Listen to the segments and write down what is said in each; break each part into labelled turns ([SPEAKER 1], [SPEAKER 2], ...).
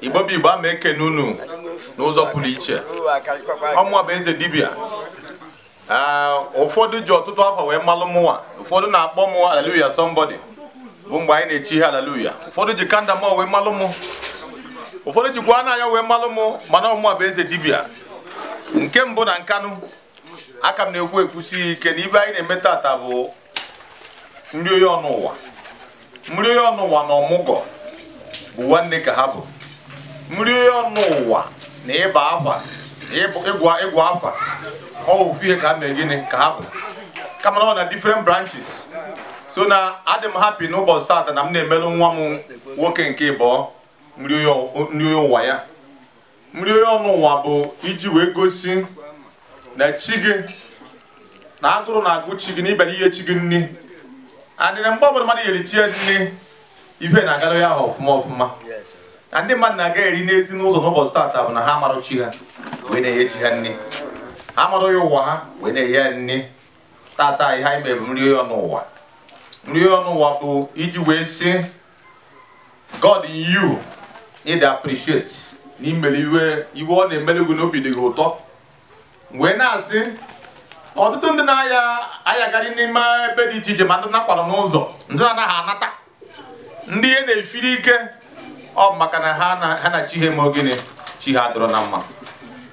[SPEAKER 1] igbo bụ igbo ama ekene unu n'ụzọ pụrụ iche ọ mụwa bụ eze dibịa ụfọdụ ji ọtụtụ afọ wee malụ mụnwa ụfọdụ na-akpọ mụ haleluya somebody bụ mgbe anyị na-echi ihe haleluya ụfọdụ ji kandama wee malụ mụ ụfọdụ jikwa n'anya wee malụ mụ mana ọ mụwa bụ eze dibịa nke mbụ na nkanụ aka m na-ekwu ekwusi ike na ive anyị na-eme tata bụ nri onye ọnụ ụwa nri onye ọnụ ụwa na ọmụgọ bụ nwanne ka ha bụ nri onye ọnụ ụwa na ịba afa na ịbụ- ịgụ ịgụ afa ọ bụ ofu ihe ka ha mee gịnị ka ha bụ kama na ọ na different branches so na adị m happy n'ụbọchị tata na m na-emelụ nwa m nwoke nke ịbụọ nri onye ụwa ya nri ọnụ ụwa bụ iji wee gosi na chi gị na agụrụ na-agụ chi gị na ị bịara iye chi gị nri adịrị mgbe ọbụla mmadụ yeri chi ya nri ive na-agara ya ọfụma ọfụma na ndị mmadụ na-agari n'ezi n'ụzọ n'ụbọchị taata bụ na ha amarụ chi ha wee na-enye chi ha nri ha amarụ onye ụwa ha wee na-enye ya nri tata ihe anyị mere bụ nri ọnụ ụwa nri ọnụ ụwa bụ iji wee sị God in you need to appreciate na i mere ive ive ọ na-emere gị na obi dị gị ụtọ wee na-asị ọtụtụ ndị na-ayagharị n'ime ebe dị iche iche ma ndị na-akwarụ n'ụzọ ndị na anaghị anata ndị ihe na-efiri ike ọ bụ maka na ha na- ha na chi ha eme gịnị chi ha adịrọ na mma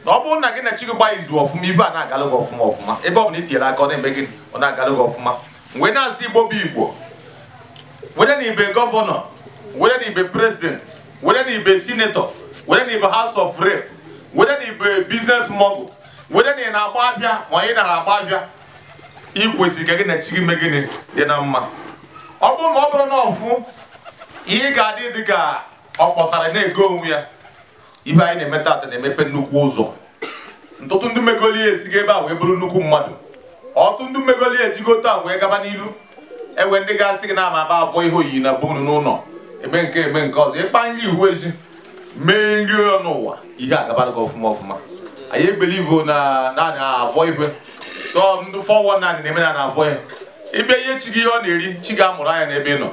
[SPEAKER 1] na ọ bụrụ na gị na chi gị gbaa izu ọfụma ive ana-agalụ gị ọfụma ọfụma ebe ọ bụla i tinyere aka ọ na-eme gịnị ọ na-agalụ gị ọfụma wee na-asị igbo bụ igbo whether na ị bụ governor whether na ị bụ president whether na ị bụ senator whether na ị bụ house of rep whether na ị bụ business mogul whether na ị na-agba avịa ma ị nara agba avịa ị kwesịrị ka gị na chi gị mee gịnị dị na mma ọ bụrụ ma ọ bụrụ na ọfụ ihe ga-adị dị ka ọ kpọsara na-ego onwe ya ive anyị na-eme tata na-emepe nnukwu ụzọ ọtụtụ ndị m megoli ya esigo ebe a wee bụrụ nnukwu mmadụ ọtụtụ ndị m megoli ya ejigo taa wee gaba n'ilu enwe ndị ga-asị gị na ama aba abụọ ihe oyiyi na bụ unu n'ụlọ eme nke eme nke ọzọ ịkpa nri ihu ezi mee nri ọnụ ụwa ihe agabara gị ọfụma ọfụma anyị ebelivo na naanị avọ ive sọ ndị four one nine na-eme na na-avọ ya ị bịa iye chi gị ihe ọ na-eri chi gị amụrụ anya n'ebe ị nọ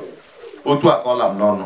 [SPEAKER 1] otu a ka ọ la m n'ọnụ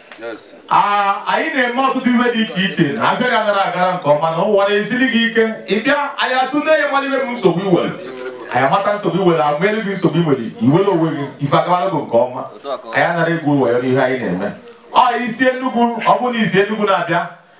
[SPEAKER 1] Ah, anyị na-eme ọtụtụ ihe dị iche iche na afịa gị anara agara nke ọma na ụwa na-esili gị ike ị bịa anyị atụle ya malụ ive bụ nsogbu i were anyị amata nsogbu i were agba elu gị nsogbu i were i were onwe gị ife agabara gị nke ọma anyị anara egwu wayo n'ihe anyị na-eme ọ i si enugwu ọ bụrụ na i si enugwu na-abịa